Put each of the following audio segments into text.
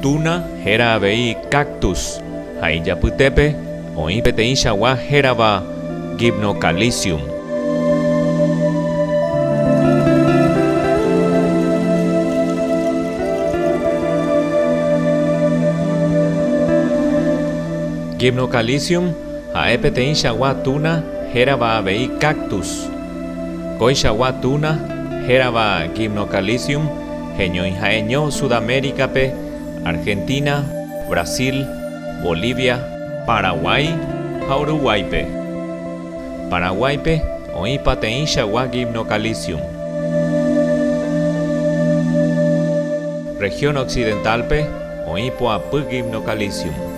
Tuna héra avei cactus ha ijapytépe oĩ peteĩ chagua hérava Gymnocalycium. Gymnocalycium ha'e peteĩ chagua tuna hérava avei cactus. Kóichagua tuna hérava Gymnocalycium Heñói ha'eño Sudamérica-pe, Argentina, Brasil, Bolivia, Paraguái ha Uruguáipe Paraguáipe oĩ pateĩchagua Gymnocalcium Región Occidental-pe oĩ poapy Gymnocalcium.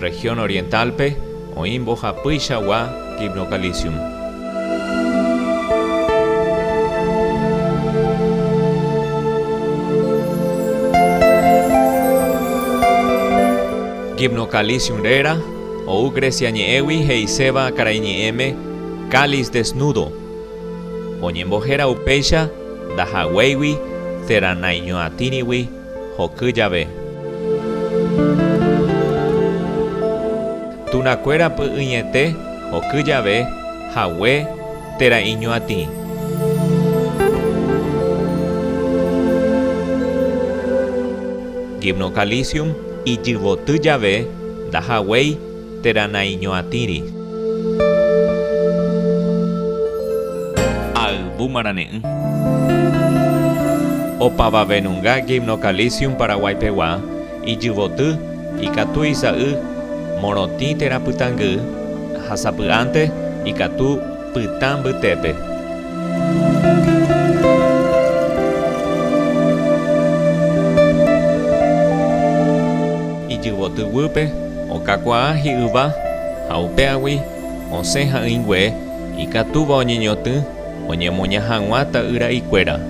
Región Oriental-pe oĩ mbohapýichagua Gymnocalcium. Gymnocalcium réra ou Grecia ñe'ẽgui he'iséva karaiñe'ẽme Cáliz desnudo. Oñembohéra upéicha ndahaguéigui térã naiñoatĩrigui hoky jave. Tunakuéra py'ỹiete hoky jave hague térã iñoatĩ. Gymnocalycium ijyvoty jave ndahaguéi Térã naiñoatĩri. Ayvu marane'ỹ. Opavavenunga Gymnocalycium paraguaipegua, ijyvoty, ikatu isa'y, morotĩ térã pytãngy, ha sapy'ánte, ikatu, Pytã mbytépe. Ijyvoty guýpe okakuaa hi'yva ha upéagui osẽ ha'ỹingue ikatúva oñeñotỹ oñemoña hag̃ua ta'ýra ikuéra.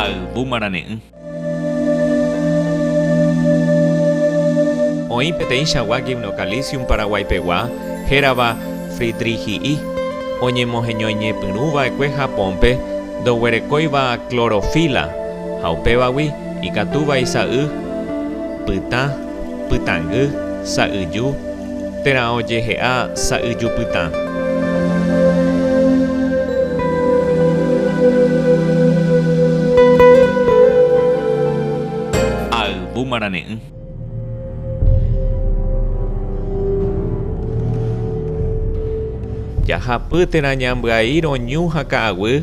Ayvu marane'ỹ. Oĩ peteĩ chagua Gymnocalisium paraguaipegua hérava Friedrichii oñemoheñoiñepyrũva'ekue Japónpe ndoguerekóiva clorofila ha upévagui ikatúva isa'y pytã, Pytãngy, sa'yju, térã ojehe'a sa'yjupytã. Ayvu marane'ỹ. Jahapy térã ñambyai roñu ha ka'aguy,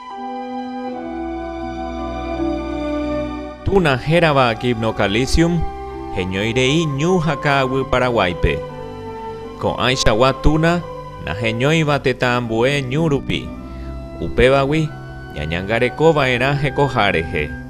Tuna hérava Gymnocalycium heñói rei ñu ha ka'aguy Paraguáipe. Ko'ãichagua Tuna naheñóiva tetã ambue ñu rupi, upévagui ñañangareko va'erã hekoha rehe.